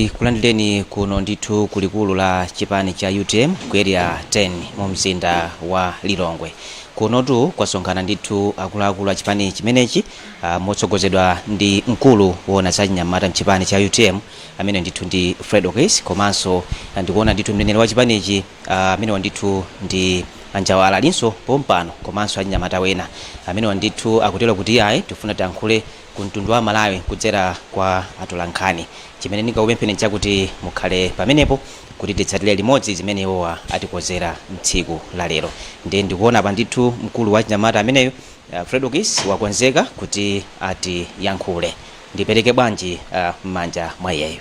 Tikulandireni kuno ndithu ku likulu la chipani cha utm ku area 10 mu mzinda wa Lilongwe. Kunotu kwasonkhana ndithu akuluakulu a chipani chimenechi ah, motsogozedwa ndi mkulu woona za chinyamata mchipani cha utm amene ndithu ndi Fredokiss komanso ah, ndikuona ndithu mneneri wa chipanichi ah, amene ndithu ndi a Njawala alinso pompano komanso achinyamata wena amene ndithu akutero kuti ayi tifuna tiyankhule ku mtundu wa amalawi kudzera kwa atolankhani. Chimene ndingakupempheni nchakuti mukhale pamenepo kuti titsatire limodzi zimene iwowa atikonzera mtsiku la lero. Ndiye ndikuona apa ndithu mkulu wa achinyamata ameneyo uh, Fredokiss wakonzeka kuti atiyankhule. Ndipereke bwanji uh, m'manja mwa iyeyo.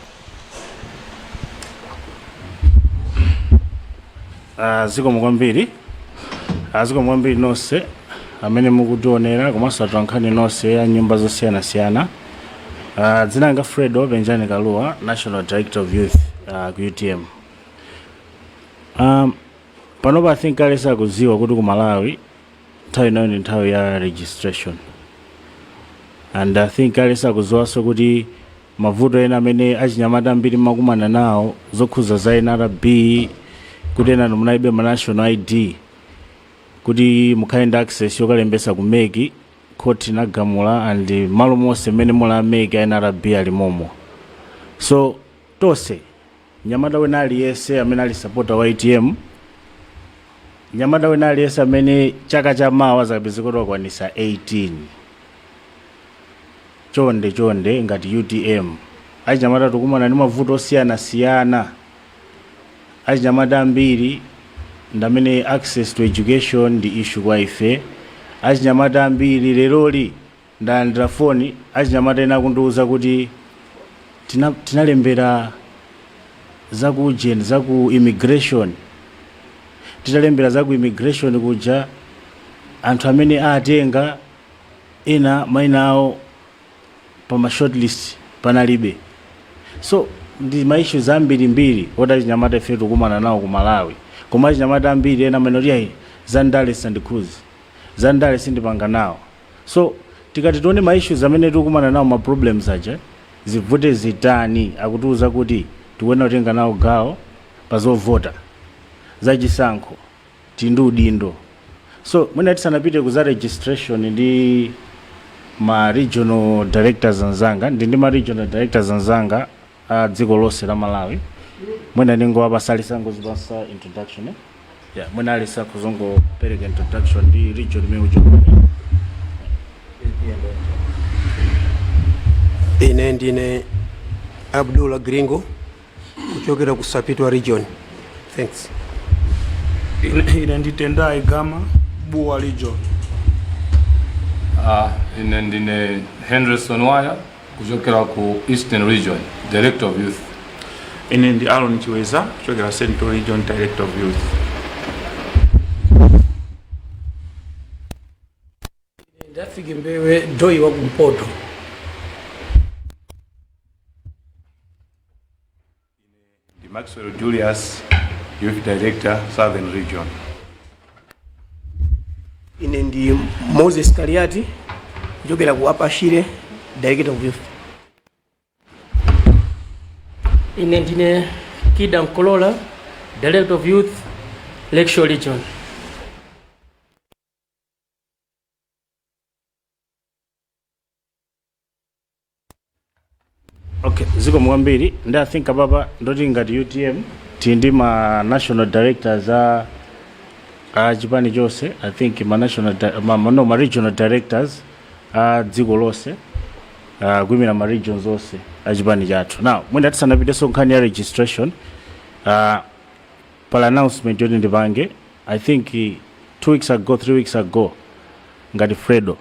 Ah, zikomo kwambiri Ah, zikomo kwambiri nonse amene mukutionera komanso atolankhani nonse ya nyumba zosiyanasiyana Ah, dzina langa Fredo Penjani Kalua national director of youth ah, ku utm um, panopa i think aliyense akudziwa kuti ku malawi nthawi inoyo ndi nthawi ya registration and i think aliyense akudziwanso kuti Mavuto ena amene achinyamata ambiri mmakumana nawo zokhuza za nrb kuti enanu munalibe ma national ID kuti mukhale ndi access yokalembetsa ku mec court inagamula and mmalo monse momwe muli a mec a nrb ali momo so tonse Mnyamata wina aliyense amene ali sapota wa utm Mnyamata wina aliyense amene chaka cha mawa azakapezeke kuti wakwanitsa 18 chonde chonde ngati utm achinyamata tikukumana ndi mavuto osiyanasiyana achinyamata ambiri ndamene access to education ndi issue kwa ife achinyamata ambiri leroli Ndalandira foni achinyamata ena akundiuza kuti tina tinalembera za ku ujeni za ku immigration titalembera za ku immigration kuja anthu amene atenga ena maina awo pa ma short list panalibe so ndi ma issues ambiri mbiri oti achinyamata ife tikukumana nawo ku Malawi koma achinyamata ambiri ena amanena kuti ayi za ndale sizindikhudza za ndale sindipanga nawo So tikati tione ma issues amene tikukumana nawo ma problems aja zivute zitani akutiuza kuti tikuyenera kutenga nawo gawo pa zovota za chisankho tili ndi udindo. So mwina tisanapite ku za registration ndi ma regional directors anzanga ndili ndi ma regional directors anzanga a dziko lonse la malawi mwina ndingowapatsa aliyense angodzipatsa introduction eh? yeah, mwina aliyense akuzangopereka introduction ndi region imene uchokera ine ndine abdullah gringo kuchokera ku sapitwa region thanks Ine- ine ndi tendai gama bua region Ah, ine ndine henderson waya kuchokera ku eastern region director of youth ine ndi aron chiweza kuchokera central region director of youth dafik mbewe doy wa kumpoto Ndi Maxwell Julius, Youth Director, Southern Region. ine ndi moses kaliati kuchokera ku upper shire director of youth ine ndine kida mkolola director of youth lakeshore region okay zikomo kwambiri ndi i think apapa nkuti ngati utm tili ndi ma national directors a a chipani chonse i think ma national di- ma, ma- no ma regional directors a dziko lonse uh, kuyimira ma regions onse a chipani chathu now mwina tisanapitenso nkhani ya registration uh, pala announcement yoti ndipange i think eh, two weeks ago three weeks ago ngati fredo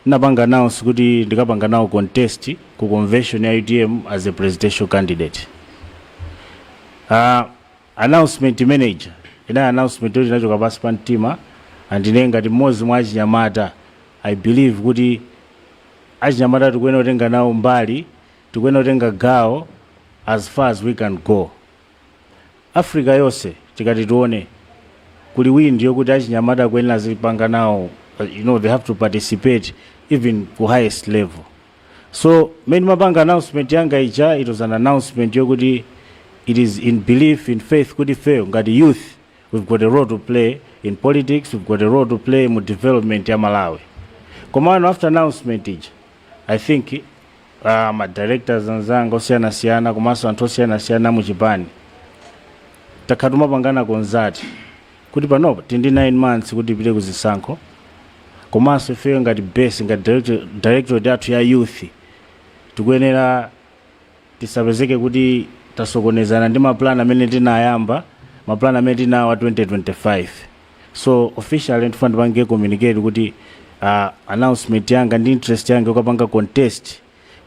Ndinapanga announce kuti ndikapanga nawo contest ku convention ya utm as a presidential candidate. Aaa announcement imene ija inali announcement yoti inachoka pansi pa mtima and ine ngati mmodzi mwa achinyamata I believe kuti achinyamata tikuyenera kutenga nawo mbali, tikuyenera kutenga gawo as far as we can go. Africa yose tikati tione kuli win ndiye kuti achinyamata akuyenera azipanga nawo uh, you know they have to participate even ku highest level so mmene mapanga announcement yanga ija it was an announcement yokuti it is in belief in faith kuti fail ngati youth we've got a role to play in politics we've got a role to play mu development ya malawi komano after announcement ija i think pa ma directors anzanga osiyanasiyana komanso anthu osiyanasiyana mu chipani takhala timapanganako zoti kuti panopa tili ndi 9 months kuti tipite ku zisankho komanso ifeyo ngati base ngati director- directorate yathu ya youth tikuyenera tisapezeke kuti tasokonezana ndi mapulani amene tinayamba mapulani amene tinawo a 2025 so officially ndifuna ndipange communicate kuti uh, announcement yanga ndi interest yanga yokapanga contest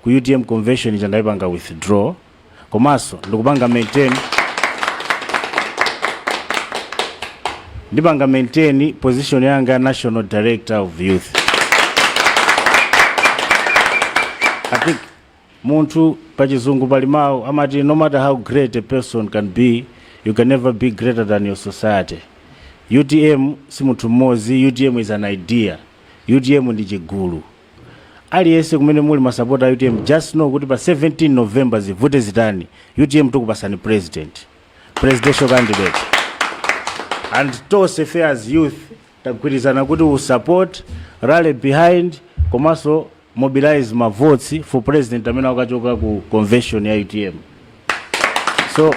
ku utm convention ija ndayipanga withdraw komanso ndikupanga maintain ndipanga maintain position yanga ya national director of youth i think Munthu, pachizungu pali mau amati no matter how great a person can be you can never be greater than your society. Utm simuthu mmozi utm is an idea utm ndi chigulu. Aliyese kumene muli masapota a utm just know kuti pa 17 November zivute zitani utm tukupasani president, presidential candidate and tose fe as youth Tagwirizana kuti we'll support, rally behind komanso mobilize ma votes for president amene akachoka ku convention ya utm. So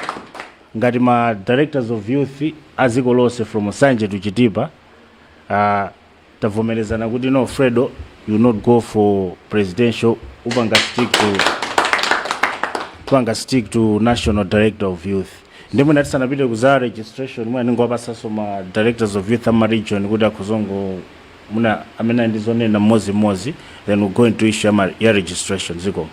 ngati ma directors of youth a dziko lonse from Nsanje to Chitipa uh, tavomerezana kuti no Fredo you will not go for presidential upanga stick to national director of youth. Nde mwina tisanapite ku za registration mwina ningowapatsanso ma directors of youth a ma region kuti akhoza kungo mwina amene ali ndi zonena mmodzimmodzi then we'll go into issue ya registration zikomo.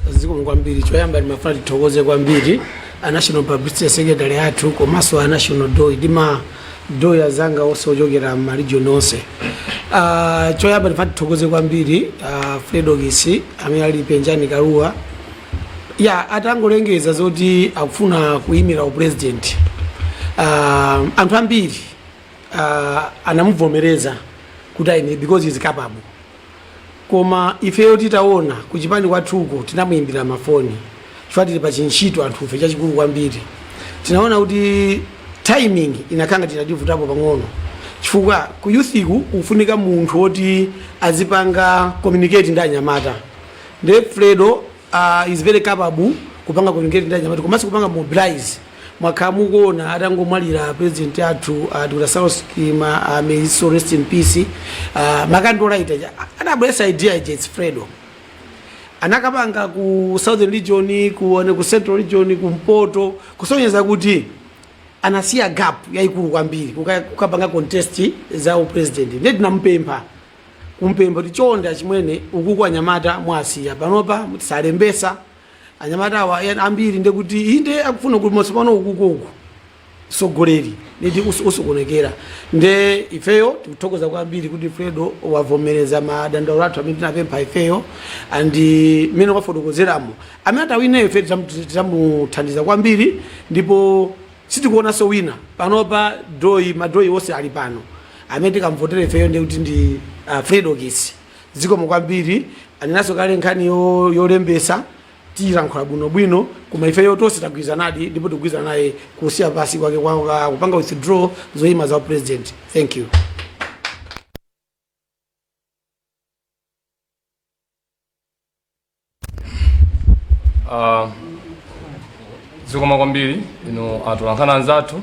zikomo kwambiri choyamba ndimafuna tithokoze kwambiri a national publicity secretary athu komanso a national doi ndi ma doi azanga onse ochokera m'maregion onse Ah, choyamba ndimafuna tithokoze kwambiri ah, Fredokiss amene ali Penjani Kalua ya atangolengeza zoti akufuna kuyimira upresident uh, anthu ambiri uh, anamuvomereza kuti ayimire because he's capable koma ifeyo titaona kuchipani kwathuko tinamuimbira mafoni chifukwa tili pachintchito anthufe chachikulu kwambiri tinaona kuti timing inakhala ngati inativutapo pang'ono chifukwa ku youth-ku ukufunika munthu woti azipanga communicate ndi anyamata nde fredo uh, is very capable kupanga communicate ndi anyamata komanso kupanga mobilize mwakhala mukuona atangomwalira president athu uh, Dr. Saulos Chilima uh, may his soul rest in peace uh, ma candlelight anabweretsa idea ija it's fredo anakapanga ku southern region ku, ane- ku central region ku mpoto kusonyeza kuti anasiya gap yayikulu kwambiri kuka- kukapanga contest za upresident ndiye tinamupempha kumpempha kuti chonde achimwene ukuku anyamata mwasiya panopa sanalembetse anyamata awa ena ambiri ndekuti inde akufuna kuti masopano ukuku uku sogoleri niti usu- usukonekera nde ifeyo tikuthokoza kwambiri kuti fredo wavomereza madandaulo athu amene tinampempha ifeyo andi mmene wafotokozeramo amene atawineyo ife tizamu- tizamuthandiza kwambiri ndipo sitikuonanso wina panopa doi ma doi onse ali pano amene tikamvotere ifeyo ndiye kuti ndi uh, Fredokiss zikomo kwambiri anenanso kale nkhani yo- yolembesa tiyilankhula bwinobwino koma ifeyo tonse tagwirizanadi ndipo tikugwirizana naye kusiya pansi kwake kwa- kwa- kupanga withdraw zoyima za upresident thank you Ah, zikomo kwambiri inu atolankhani anzathu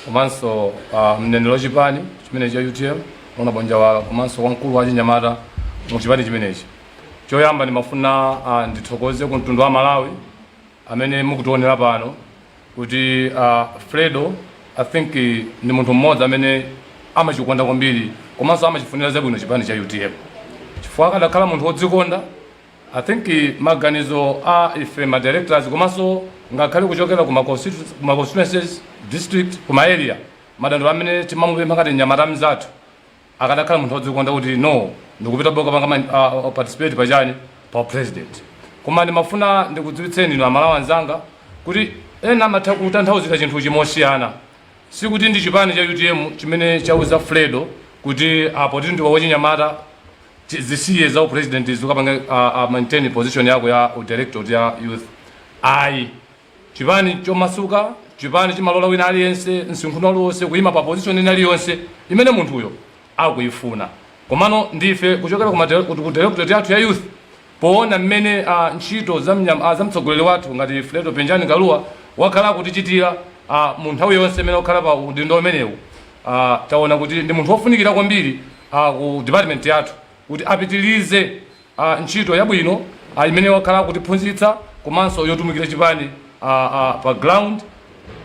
komanso ah, mneneri wa chipani chimene cha utm Honourable Njawala komanso wamkulu wa chinyamata mu chipani chimenechi choyamba ndimafuna ah, ndithokoze ku mtundu wa malawi amene mukutionera pano kuti a Fredo I think ndi munthu mmodzi amene amachikonda kwambiri komanso amachifunira zabwino chipani cha UTM chifukwa akadakhala munthu wodzikonda I think maganizo a ife ma directors komanso ngakhale kuchokera ku ma constitu- ku ma constituencies district ku ma area madandaulo amene timamupempha ngati mnyamata mnzathu akadakhala munthu wodzikonda kuti no ndikupita ndikapanga man- ah, ah, participate pachani pa upresident koma ndimafuna ndikudziwitseni inu aMalawi anzanga kuti ena amatha kutanthauzira chinthu chimosiyana sikuti ndi chipani cha utm chimene chauza fredo kuti a poti ndiwe wachinyamata chi- zisiye za upresident uzikapanga uh, uh, maintain position yako ya udirector ya youth ayi Chipani chomasuka, chipani chimene chimalola wina aliyense msinkhu uliwonse kuyima pa position ina iliyonse imene munthuyo akuyifuna. Komano ndife kuchokera ku directorate yathu ya youth powona mmene ntchito za mtsogoleri wathu ngati Fredo Penjani Kalua wakhala akutichitira mu nthawi yonse imene wakhala pa udindo umenewu tawona kuti ndi munthu wofunikira kwambiri ku department yathu kuti apitilize a ntchito yabwino a imene wakhala akutiphunzitsa komanso yotumikira chipani a a pa ground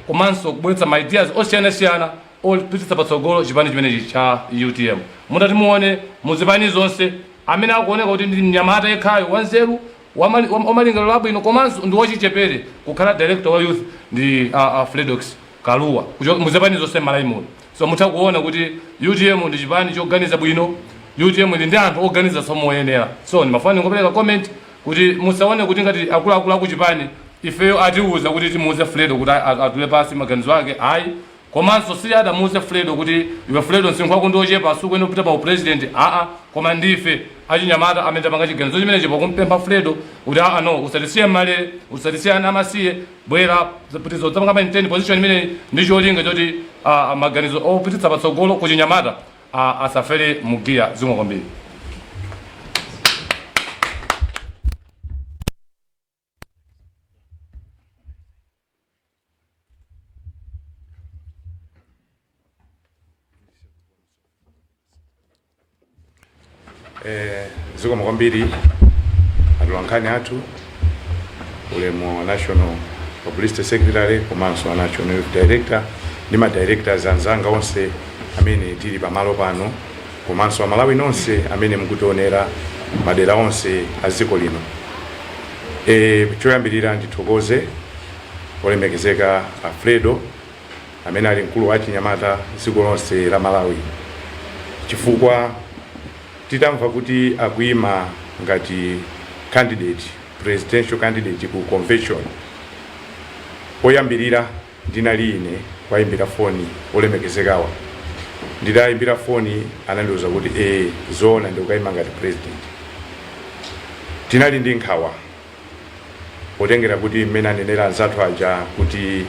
komanso kubweretsa ma ideas osiyanasiyana opititsa patsogolo chipani chimenechi cha utm mutati muone mu zipani zonse amene akuoneka kuti ndi mnyamata yekhayo wanzeru wamali- wam- wamalingaliro abwino komanso ndi wachichepere kukhala director wa youth ndi a, a Fredokiss Kalua kuchoka mu zipani zonse m'malawi muno So mutha kuona kuti utm ndi chipani choganiza bwino, utm ili ndi anthu oganizanso moyenera. So ndimafuna ndingopereka comment kuti musaone kuti ngati akuluakulu a kuchipani ifeyo atiuza kuti timuuze Fredo kuti a- a- atule pansi maganizo ake, ayi. Komanso si adamuuze Fredo kuti iwe Fredo msinkhu wako ndi wochepa sukuyenera kupita pa upresident, aa. Koma ndife achinyamata amene tapanga chiganizo chimenechi pakumpempha Fredo kuti aa no usatisiye m'malere, usatisiye ana amasiye, bwera uzapitirize uzapange maintain position imeneyi ndi cholinga choti ah, maganizo opititsa patsogolo kuchinyamata ah, asafere mugiya zikomo kwambiri Eh, zikomo kwambiri atolankhani athu ulemu a national publicity secretary komanso wa national youth director ndi ma directors anzanga onse amene tili pamalo pano komanso amalawi nonse amene mukutionera madera onse a dziko lino e, choyambirira ndithokoze olemekezeka a fredo amene ali mkulu wa achinyamata dziko lonse la Malawi chifukwa titamva kuti akuima ngati candidate presidential candidate ku convention oyambirira ndinali ine kuwayimbira foni olemekezekawa nditawayimbira foni anandiuza kuti ee zoona ndikukaima ngati president tinali ndi nkhawa potengera kuti mmene anenera anzathu aja kuti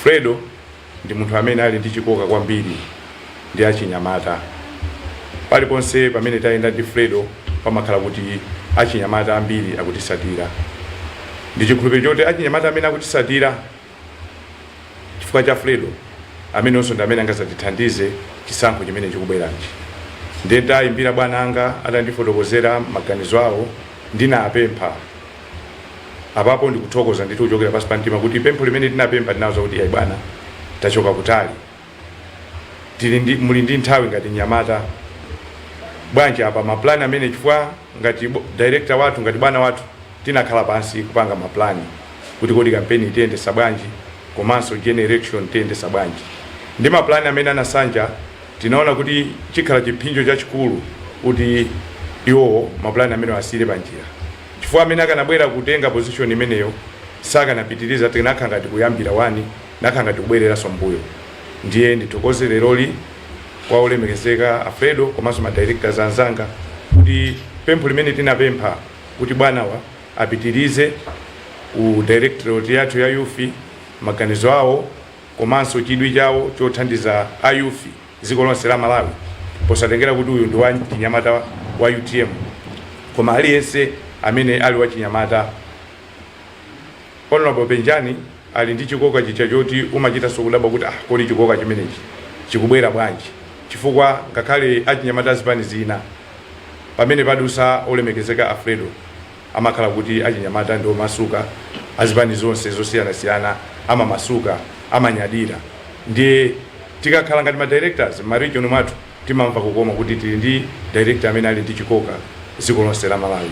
fredo ndi munthu amene ali ndi chikoka kwambiri ndi achinyamata paliponse pamene tayenda ndi fredo pamakhala kuti achinyamata ambiri akutisatira ndi chikhulupiriro choti achinyamata amene akutisatira chifukwa cha fredo amenenso ndi amene angazatithandize chisankho chimene chikubwerachi ndiye nditayimbira bwana anga atandifotokozera maganizo awo ndinapempha apapo ndikuthokoza ndithu kuchokera pansi pa mtima kuti pempho limene tinapempha tinawauza kuti ayi bwana tachoka kutali tili ndi muli ndi nthawi ngati nyamata bwanji apa ma plan amene chifukwa ngati bo- director wathu ngati bwana wathu tinakhala pansi kupanga ma plan kuti kodi kampeni itiyendesa bwanji komanso general election tiyendesa bwanji ndi ma plan amene anasanja tinaona kuti chikhala chipsinjo chachikulu kuti iwowo ma plan amenewo asiyire panjira chifukwa amene akanabwera kutenga position imeneyo sakanapitiriza tinakakhala ngati kuyambira wani Nakhala ngati kubwereranso m'mbuyo. Ndiye ndithokoze leroli kwa olemekezeka a Fredo komanso ma directors anzanga kuti pempho limene tinapempha kuti bwanawa apitirize ku directorate yathu ya youth, maganizo awo komanso chidwi chawo chothandiza a youth dziko lonse la Malawi posatengera kuti uyu ndi wachinyamata wa utm koma aliyense amene ali wachinyamata. Hon. Penjani. Ali ndi chikoka chija choti umachitanso kudabwa kuti ah kodi chikoka chimenechi chikubwera bwanji chifukwa ngakhale achinyamata azipani zina pamene padutsa olemekezeka a Fredo amakhala kuti achinyamata ndi omasuka azipani zonse zosiyanasiyana amamasuka amanyadira ndiye tikakhala ngati ma directors mma region mwathu timamva kukoma kuti tili ndi director amene ali ndi chikoka dziko lonse la Malawi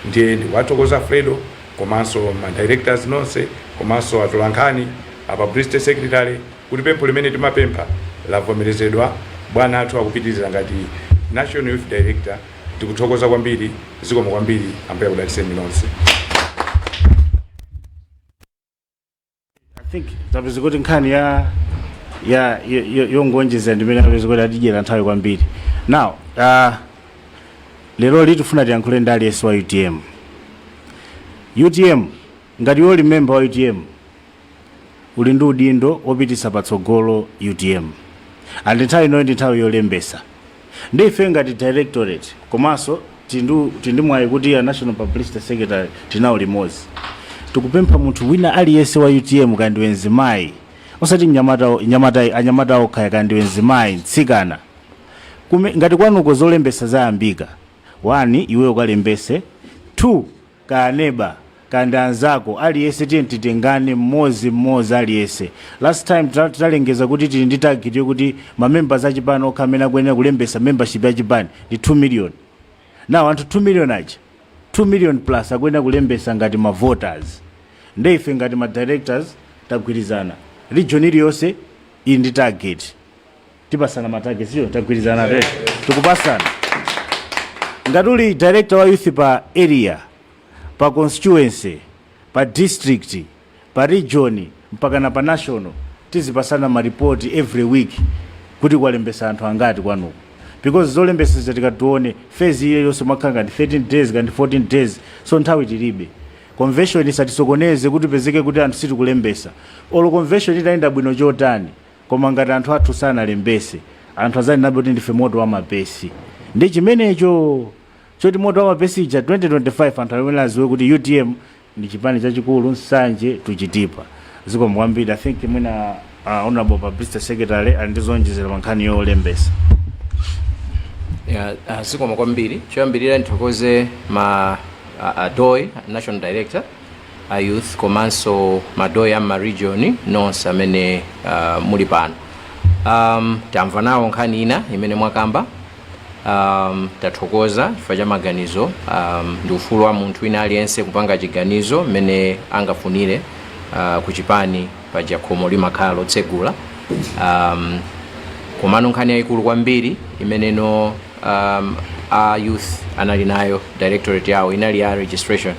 ndiye ndikuwathokoza a Fredo komanso ma directors nonse komanso atolankhani a publicity secretary kuti pempho limene timapempha lavomerezedwa bwana athu akupitiriza ngati national youth director tikuthokoza kwambiri zikomo kwambiri ambuye akudalitseni nonse think apeza kuti nkhani ya ya yo- yo- yongonjeza ndimene apeza kuti atidyera nthawi kwambiri now uh, lero litifuna tiyankhule ndi aliyense wa utm utm ngati iwe uli member wa utm uli ndi udindo wopititsa patsogolo utm and nthawi inoyo ndi nthawi yolembesa Nde ifeyo ngati directorate komanso tili ndi tili ndi mwayi kuti a National Publicity Secretary tili nawo limodzi. Tikupempha munthu wina aliyense wa utm kaya ndiwe mzimayi, osati mnyamata, nyamata, anyamata okha kaya ndiwe mzimayi, mtsikana, kume, ngati kwanuko zolembetsa zayambika, one iweyo ukalembetse, two kaya neba kaya ndi anzako aliyense tiye titengane mmodzi mmodzi aliyense last time tita- titalengeza kuti tili ndi target yokuti mamembers a chipani okha amene akuyenera kulembesa membership ya chipani ndi 2 million now anthu 2 million aja 2 million plus akuyenera kulembesa ngati ma voters nde ife ngati ma directors tagwirizana region iliyonse ili ndi target tipasana ma targets wo tagwirizana te tikupasana ngati uli director wa youth pa area pa constituency pa district pa region mpakana pa national tizipasana maripoti every week kuti kwalembesa anthu angati kwanuko because zolembesazi tikati tione fezi iyo yonse imakhala ngati 13 days kaya ndi 14 days so nthawi tilibe convention isatisokoneze kuti upezeke kuti anthu sitikulembesa olo convention itayenda bwino chotani koma ngati anthu athu sanalembese anthu azanenabe kuti ndife moto wa mapesi ndi chimenecho choti moto wa mapesi ija 2025 anthu ayenera aziwe kuti utm ndi chipani chachikulu nsanje tuchitipa zikomo kwambiri i think mwina uh, honorable publicity secretary ali ndi zonjezera pa nkhani yolembesa Ya, ah, zikomo kwambiri choyambirira ndithokoze ma ah, a DOY national director a youth komanso ma DOY a m'ma region nonse amene uh, muli pano um, tamva nawo nkhani ina imene mwakamba um, tathokoza chifukwa cha maganizo um, ndi ufulu wa munthu wina aliyense kupanga chiganizo mmene angafunire uh, kuchipani paja khomo limakhala lotsegula um, komano nkhani yayikulu kwambiri imeneno um, a youth anali nayo directorate yawo inali ya registration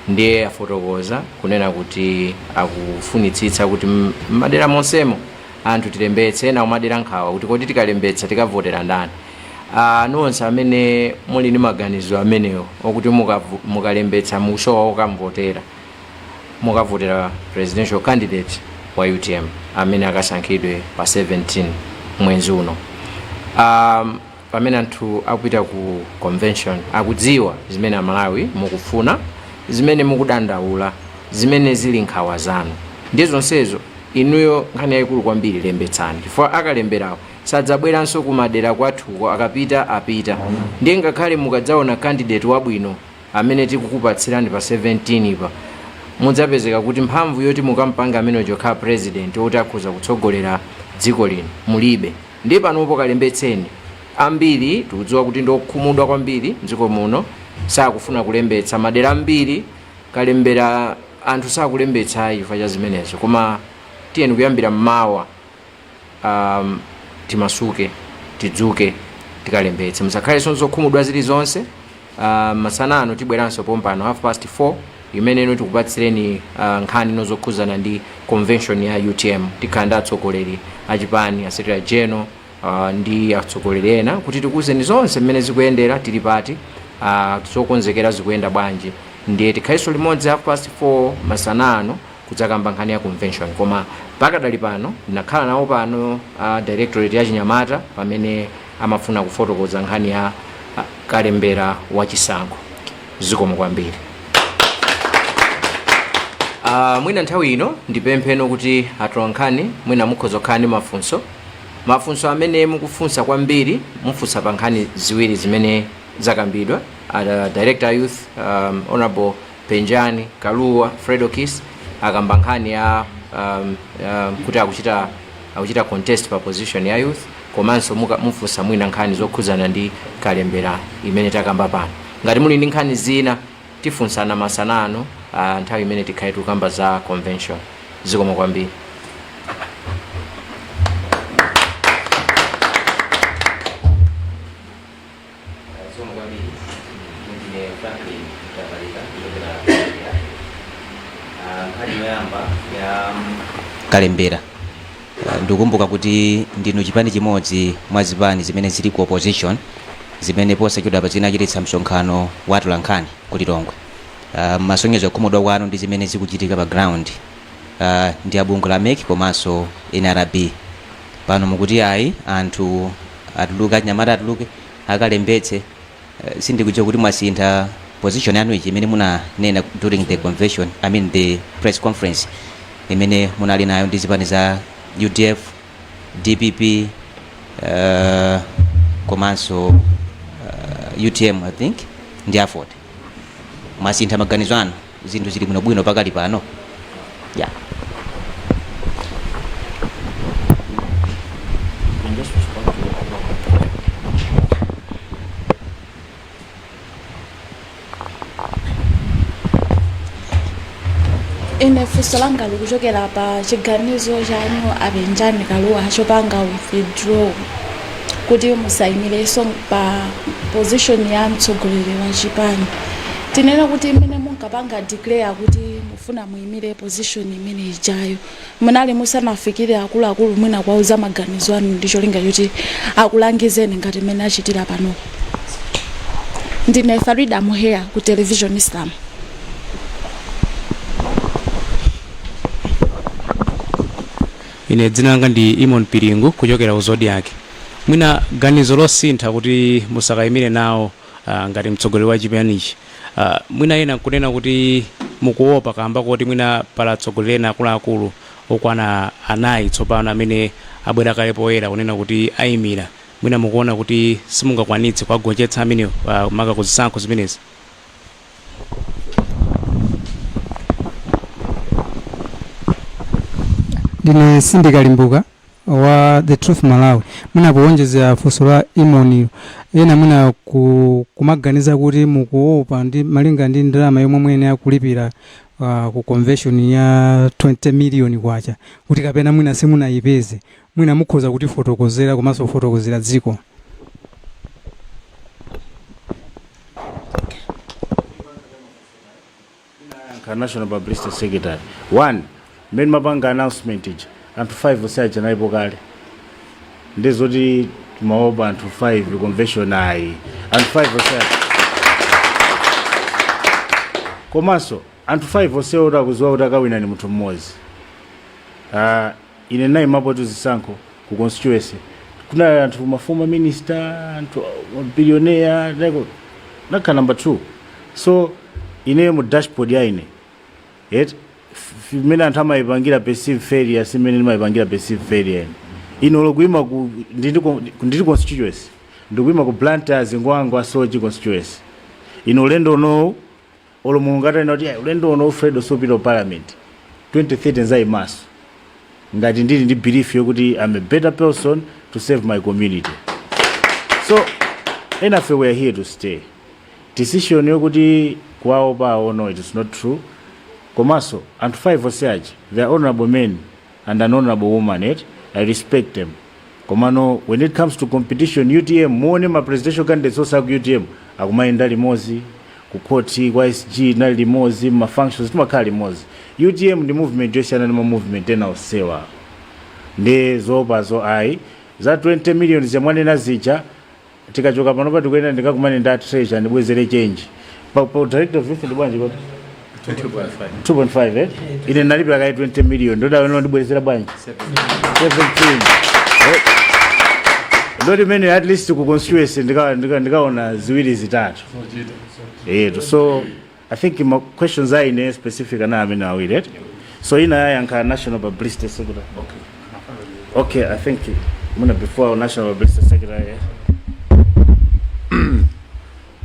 ndiye afotokoza kunena kuti akufunitsitsa kuti m- m'madera monsemo anthu tilembetse ena kumadera nkhawa kuti kodi tikalembetsa tikavotera ndani Ah, nonse amene muli ndi maganizo amenewo okuti mukavu- mukalembetsa musowa okamvotera mukavotera presidential candidate wa utm amene akasankhidwe pa 17 mwezi uno um, pamene anthu akupita ku convention akudziwa zimene amalawi mukufuna zimene mukudandaula zimene zili nkhawa zanu ndi zonsezo inuyo nkhani yayikulu kwambiri lembetsani chifukwa akalemberawo sadzabweranso kumadera kwathuko akapita apita ndiye ngakhale mukadzaona candidate wabwino amene tikukupatsirani pa 17 pa mudzapezeka kuti mphamvu yoti mukampange ameneyo kukhala president oti akhoza kutsogolera dziko lino mulibe Ndi panopo kalembetseni. Ambiri tikudziwa kuti ndiokhumudwa kwambiri mdziko muno sakufuna kulembetsa. Madera ambiri kalembera anthu sakulembetsa chifukwa cha zimenezo koma tiyeni kuyambira mmawa um, timasuke tidzuke tikalembetse musakhalenso ndi zokhumudwa zilizonse. Uh, masana ano tibweranso pompano half past 4 imeneyi ino tikupatsireni uh, nkhani zino zokhudzana ndi convention ya utm tikhala ndi atsogoleri achipani asekretary general uh, ndi atsogoleri ena kuti tikuwuzeni zonse mmene zikuyendera tili pati uh, zokonzekera zikuyenda bwanji ndiye tikhalenso limodzi half past 4 masana ano kudzakamba nkhani ya convention koma pakadali pano ndinakhala nawo pano uh, directorate ya chinyamata pamene amafuna kufotokoza nkhani ya kalembera wa chisankho zikomo kwambiri Ah, mwina nthawi ino ndipempheko kuti atolankhani mwina mukhoza kukhala ndi mafunso mafunso amene mukufunsa kwambiri mufunsa pa nkhani ziwiri zimene zakambidwa uh, director wa youth um, honorable Penjani Kalua, Fredokiss akamba nkhani ya um, um, kuti akuchita akuchita contest pa position ya youth komanso muka- mufunsa mwina nkhani zokhudzana ndi kalembera imene takamba pano. Ngati muli ndi nkhani zina tifunsana masana ano ah, nthawi imene tikhale tikukamba za convention. Zikomo kwambiri. kalembera ndikukumbuka kuti ndinu chipani chimodzi mwa zipani zimene zili ku opposition zimene posachedwapa zinachititsa msonkhano wa atolankhani ku lilongwe uh, kusonyeza kukhumudwa kwanu ndi zimene zikuchitika pa ground uh, ndi abungwe la mec komanso nrb pano mukuti ayi anthu atuluke anyamata atuluke akalembetse uh, sindikudziwa kuti mwasintha position yanu ichi imene munanena during the convention i mean the press conference imene munali nayo ndi zipani za udf dpp uh, komanso uh, utm i think ndi aford mwasintha maganizo anu zinthu zili bwino bwino pakali pano ya ine funso langa likuchokera pa chiganizo chanu a Penjani Kalua chopanga withdraw kuti musayimirenso pa position ya mtsogoleri wa chipani tinene kuti mmene munkapanga declare kuti mufuna muyimire position imene ijayo munali musanafikire akuluakulu mwina kuwauza maganizo anu ndi cholinga choti akulangizeni ngati mmene achitira pano ndine farida muheya ku television islam Ine dzina langa ndi Eamon Piringu kuchokera ku Zodiak. Mwina ganizo losintha kuti musakayimire nawo ngati mtsogoleri wa chipanichi. Mwina ena nkunena kuti mukuopa kaamba koti mwina pali atsogoleri ena akuluakulu okwana anayi tsopano amene abwera kale poyera kunena kuti ayimira. Mwina mukuona kuti simungakwanitse kuwagonjetsa amenewo maka ku zisankho zimenezi? ndine Cindy Kalimbuka wa the truth malawi mwina kuwonjezera funso la Eamon-yo ena mwina ku, kumaganiza kuti mukuopa ndi malinga ndi ndalama yomwe muyenera kulipira uh, ku convention ya 20 million kwacha kuti kapena mwina simunayipeze Mwina mukhoza kutifotokozera komanso kufotokozera dziko. National publicity secretary one mmene ndimapanga announcement ija anthu 5 onse aja analipo kale ndi zoti timaopa anthu 5 convention ayi anthu 5 onse aja komanso anthu 5 onse oti akuziwa kuti akawina ni munthu mmodzi Ah, Ine ndinayimapotu zisankho ku constituency kunali anthu ma former minister anthu billionaire ndinakhala number 2 so ine mu dashboard ya ine mmene anthu amayipangira perceive failure simene ndimayipangira perceive failure ine ine olo kuyima ku ndili ku- ndili constituency ndikuyima ku Blantyre Zingwangwa Soche constituency ine ulendo unowu Olo Mulungu atanena kuti ayi ulendo uno Fredo supita ku parliament 2030 ndizayimanso ngati ndili ndi belief yokuti I'm a better person to serve my community. So enafe we are here to stay. Decision yokuti kuwaopa no it is not true. Komanso anthu 5 onse aja they are honorable men and an honourable woman eti i respect them komano when it comes to competition utm muone ma presidential candidates onse aku utm akumayenda limodzi ku court kwa sg ndinali limodzi ma functions timakhala limodzi utm ndi movement yosiyana ndi ma movement ena onsewa nde zoopazo ayi za 20 million zimene mwanena zija Tikachoka panopa ndikuyenera ndikakumane ndi a treasurer andibwezere change. Pa, pa director of youth ndi bwanji kodi? 2.5 eh? Ine ndinalipira kaye 20 million ndoti awa andibwezera bwanji? 17. Eh, Ndoti mwina at least ku constituency ndika- ndika- ndikaona ziwiri zitatu. Eti so I think ma questions a ine specific anali amenewa awiri eti so ina ayankha national publicity secretary okay i think muna before our national publicity secretary eh?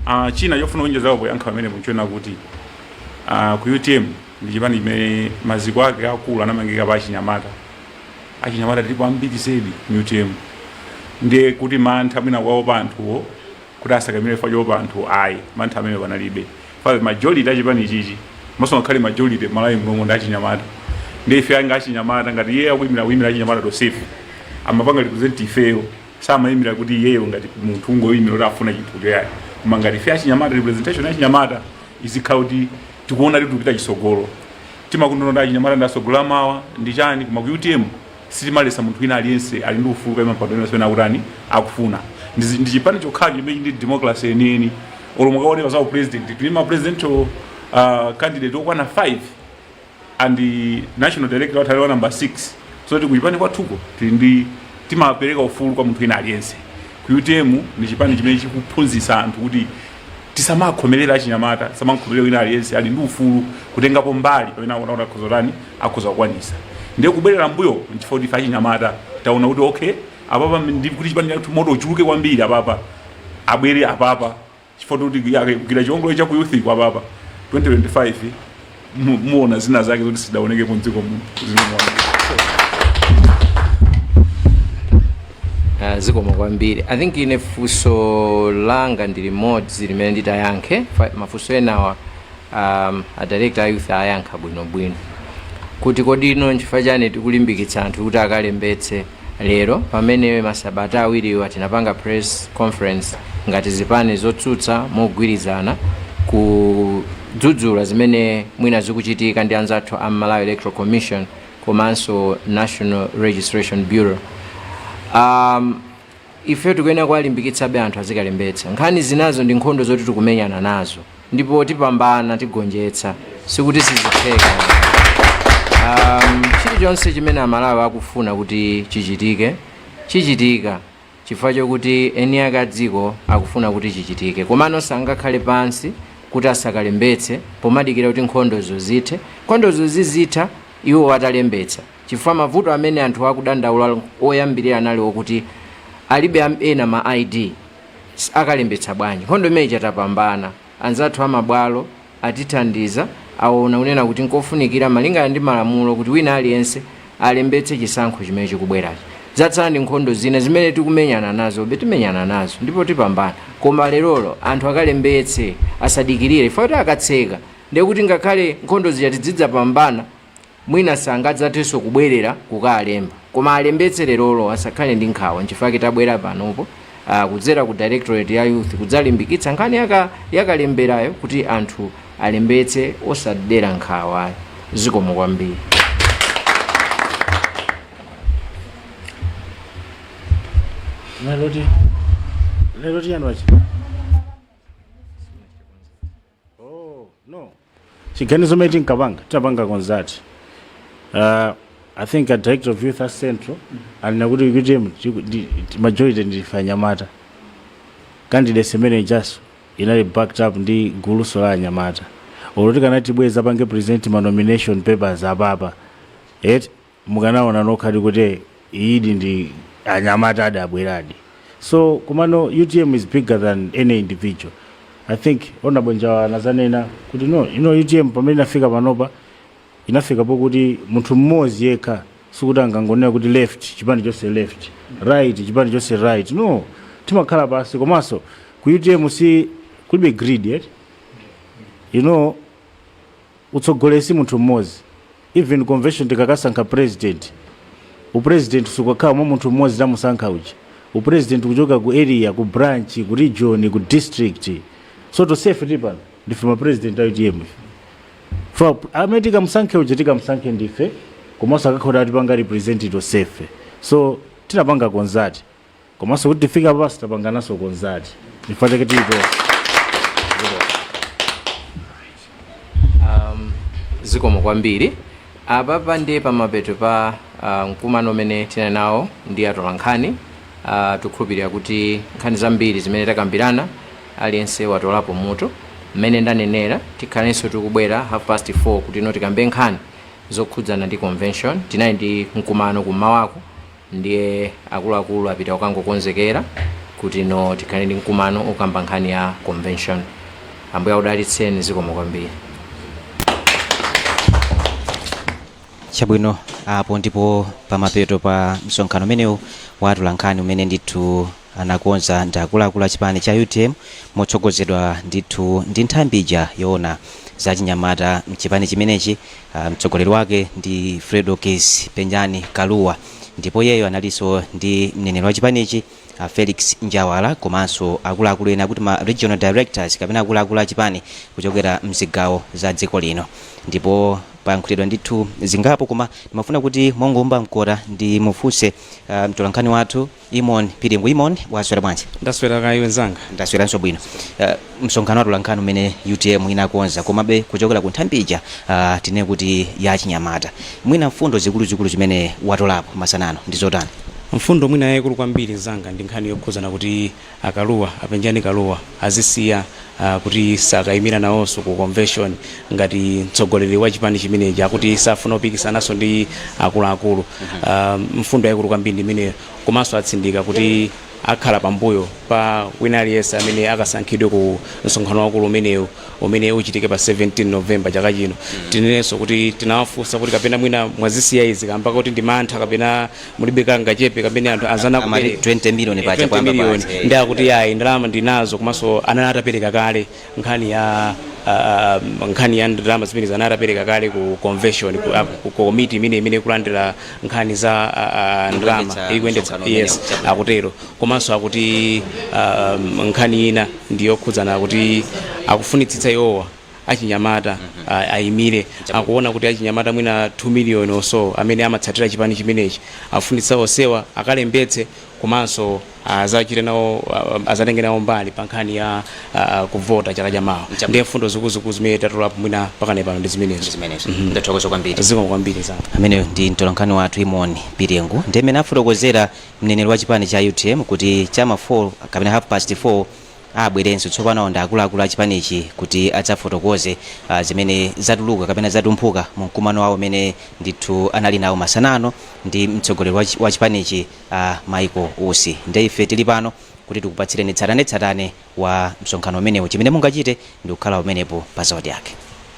Ah, china chofuna kuonjezapo poyankha pamene mwatchula kuti ah, ku utm ndi chipani chimene maziko ake akulu anamangika pa achinyamata achinyamata tilipo ambiri zedi mu utm ndiye kuti mantha mwina kuwaopa anthuwo kuti asakaimile chifukwa choopa anthu ayi mantha amenewo palibe chifukwa majority achipanichi komanso ngakhale majority m'malawi munomo ndi achinyamata ndiye ife monga achinyamata ngati iye akuyimira kuyimira achinyamata tonsefe amapanga represent ifeyo sakuyimira kuti iyeyo ngati munthu kungoyimira kuti afuna chinthu chakuti koma ngati ife achinyamata representation achinyamata izikhala kuti tikuona kuti tikupita chitsogolo timangonena kuti achinyamata ndi atsogoleri amawa ndi chani koma ku utm Sitimaletsa munthu wina aliyense ali ndi ufulu kukaimira mpando uliwonse umene akutani akufuna. Ndi ndi chipani chokhacho chimene chili ndi democracy yeniyeni. Olo mukaone pa za u president tili ndi ma presidential uh, candidate okwana 5 and national director wathu ali wa number 6 so kuti kuchipani kwathuko tili ndi timapereka ufulu kwa munthu wina aliyense ku utm ndi chipani chimene chikuphunzitsa anthu kuti tisamakhomerere achinyamata tisamakhomerere wina aliyense ali ndi ufulu kutengapo mbali pamene akuona kuti akhoza kutani akhoza kukwanitsa ndiye kubwerera mbuyo nchifukwa kuti ife achinyamata taona kuti okay apapa ndiye kuti chipani chathu moto uchuluke kwambiri apapa abwere apapa chifukwa kuti yake kugwira chiongolero cha ku youth kwa apapa 2025 mu- muona zina zake zoti sizidaonekepo mdziko muno zimene mwaona. Ah, zikomo kwambiri i think ine funso langa ndi limodzi limene nditayankhe Fa- mafunso enawa um, a director a youth ayankha bwinobwino kuti kodi inu nchifukwa chani tikulimbikitsa anthu kuti akalembetse lero pamene masabata awiriwa tinapanga press conference ngati zipani zotsutsa mogwirizana ku dzudzula zimene mwina zikuchitika ndi anzathu a Malawi Electoral Commission komanso National Registration Bureau. Um, ife tikuyenera kuwalimbikitsabe anthu azikalembetsa. Nkhani zinazo ndi nkhondo zoti tikumenyana nazo ndipo tipambana tigonjetsa sikuti sizitheka. Um, chilichonse chimene Amalawi akufuna kuti chichitike chichitika. chifukwa chokuti eniake a dziko akufuna kuti chichitike. Komano sangakhale pansi kuti asakalembetse pomadikira kuti nkhondozo zithe. Nkhondozo zizitha iwowo atalembetsa chifukwa mavuto amene anthu akudandaula oyambirira anali okuti alibe ena ma ID. Akalembetsa bwanji? Nkhondo imene ija tapambana. Anzathu a mabwalo atithandiza, aona kunena kuti nkofunikira malingana ndi malamulo kuti wina aliyense alembetse chisankho chimene chikubwerachi. Zatsala ndi nkhondo zina zimene tikumenyana nazobe, timenyana nazo ndipo tipambana koma lerolo anthu akalembetse asadikirire chifukwa kuti akatseka ndiye kuti ngakhale nkhondo zija tidzidzapambana. Mwina sangadzathenso kubwerera kukalemba. Koma alembetse lerolo asakhale ndi nkhawa nchifukwa chake tabwera panopo ah, kudzera ku directorate ya youth kudzalimbikitsa nkhani yakalemberayo kuti anthu alembetse osadera nkhawa. Zikomo kwambiri. Lero ti lero ti yanwachi. chiganizo chimene tinkapanga tinapanga kunena kuti uh, i think a director of youth wa central ananena kuti utm chiku- ndi- ndi- majority ndife anyamata candidate imene ijanso inali backed up ndi gulunso la anyamata olo tikanati tibwere tidzapange present ma nomination papers apapa et mukanaona nokhadi kuti iyidi ndi ya anyamata adabweradi so komano utm is bigger than any individual i think honorable njawa ananenapo kuti no you know, utm pamene inafika panopa inafika pokuti munthu mmodzi yekha sikuti angangonena kuti left chipani chonse left right chipani chonse right no timakhala pansi komanso ku utm si kulibe greed yet you know Utsogoleri si munthu mmodzi. Even convention tikakasankha president, u president sukakhala mwa munthu mmodzi tamusankha uja. U president ukuchokera ku area, ku branch, ku region, ku district. So tonsefe tili pano ndife ma president a utm ife. Chifukwa amene tikamusankhe uja tikamusankhe ndife komanso akakhala akutipanga represent tonsefe. So tinapanga kunena kuti. komanso kuti tifika apa sitapangananso konzati chifukwa chake tili tonse um, zikomo kwambiri apapa ndiye pamapeto pa uh, mkumano umene tinali nawo ndi atolankhani uh, tikukhulupirira kuti nkhani zambiri zimene takambirana aliyense watolapo mutu mmene ndanenera tikhalenso tikubwera half past 4 kutino tikambe nkhani zokhudzana ndi convention tinali ndi mkumano kummawaku Ndiye akuluakulu apita kukangokonzekera kutino tikhale ndi mkumano okamba nkhani ya convention. Ambuye akudalitseni zikomo kwambiri. Chabwino, apo ndipo pamapeto pa msonkhano umenewu wa atolankhani umene ndithu anakonza ndi akuluakulu a chipani cha utm motsogozedwa ndithu ndi nthambi ija yoona za achinyamata mchipani chimenechi ah, mtsogoleri wake ndi fredokiss penjani kalua ndipo iyeyo analinso ndi mneneri wa chipanichi ah, felix njawala komanso akuluakulu ena kuphatikiza ma regional directors kapena akuluakulu a chipani kuchokera mzigawo za dziko lino ndipo payankhulidwa ndithu zingapo koma ndimafuna kuti mongoomba mkota ndimufunse ah, mtolankhani wathu Imon piringu imon waswera bwanji? Ndaswera kaya iwe nzanga? Ndasweranso bwino. Uh, msonkhano wa atolankhani umene utm inakonza komabe kuchokera ku nthambi ija uh, tinene kuti ya achinyamata mwina mfundo zikuluzikulu zimene watolapo masana ano ndi zotani? Mfundo mwina yayikulu kwambiri nzanga ndi nkhani yokhuzana kuti A Kalua, a Penjani Kalua azisiya kuti sakayimira nawonso ku convention ngati mtsogoleri wa chipani chimenechi. Akuti safuna kupikisanaso ndi akuluakulu. Mfundo yaikulu kwambiri ndi imeneyo. Komanso atsindika kuti akhala pambuyo pa wina aliyense amene akasankhidwe ku msonkhano waukulu umenewu umene uchitike pa 17 November chaka chino. Tinenenso kuti tinawafunsa kuti kapena mwina mwazisiya izi kamba koti ndi mantha kapena. mulibe kangachepe kamene anthu anzana Amati akupereka. 20 million Eh, paja 20 kwacha million. paja, eh. ndi akuti yayi ndalama ndinazo komanso anali atapereka kale nkhani ya ah, nkhani ya ndalama zimenezi anali atapereka kale ku convention ku, ah, ku komiti imene imene ikulandira nkhani za ah, ah, ndalama Ikuyendetsa ikuyendetsa msonkhano yes umenewu, chabwino. akutero komanso akuti ah, nkhani ina ndiyokhudzana kuti akufunitsitsa iwowa achinyamata a- ayimire akuona kuti achinyamata mwina 2 million or so amene amatsatira chipani chimenechi afunitsitsa onsewa akalembetse komanso azachite nawo a- azatenge nawo mbali pa nkhani ya a- a, kuvota chaka cha mawa Chabwino. ndiye mfundo zikuluzikulu zimene tatolapo mwina pakadali pano ndi zimenezo zimenezo ndathokoza kwambiri zikomo kwambiri nzanga ameneyo ndi mtolankhani wathu imon piringu ndiye mmene afotokozera mneneri wa chipani cha utm kuti chama 4 kapena half past 4 abwerenso tsopano ndi akuluakulu a chipanichi kuti adzafotokoze ah, zimene zatuluka kapena zatumphuka mu mkumano wawo umene ndithu anali nawo masana ano ndi mtsogoleri wa chi- wa chipanichi ah, michael usi nde ife tili pano kuti tikupatsireni tsatanetsatane wa msonkhano umenewu chimene mungachite ndi kukhala pomwepo pa zodiak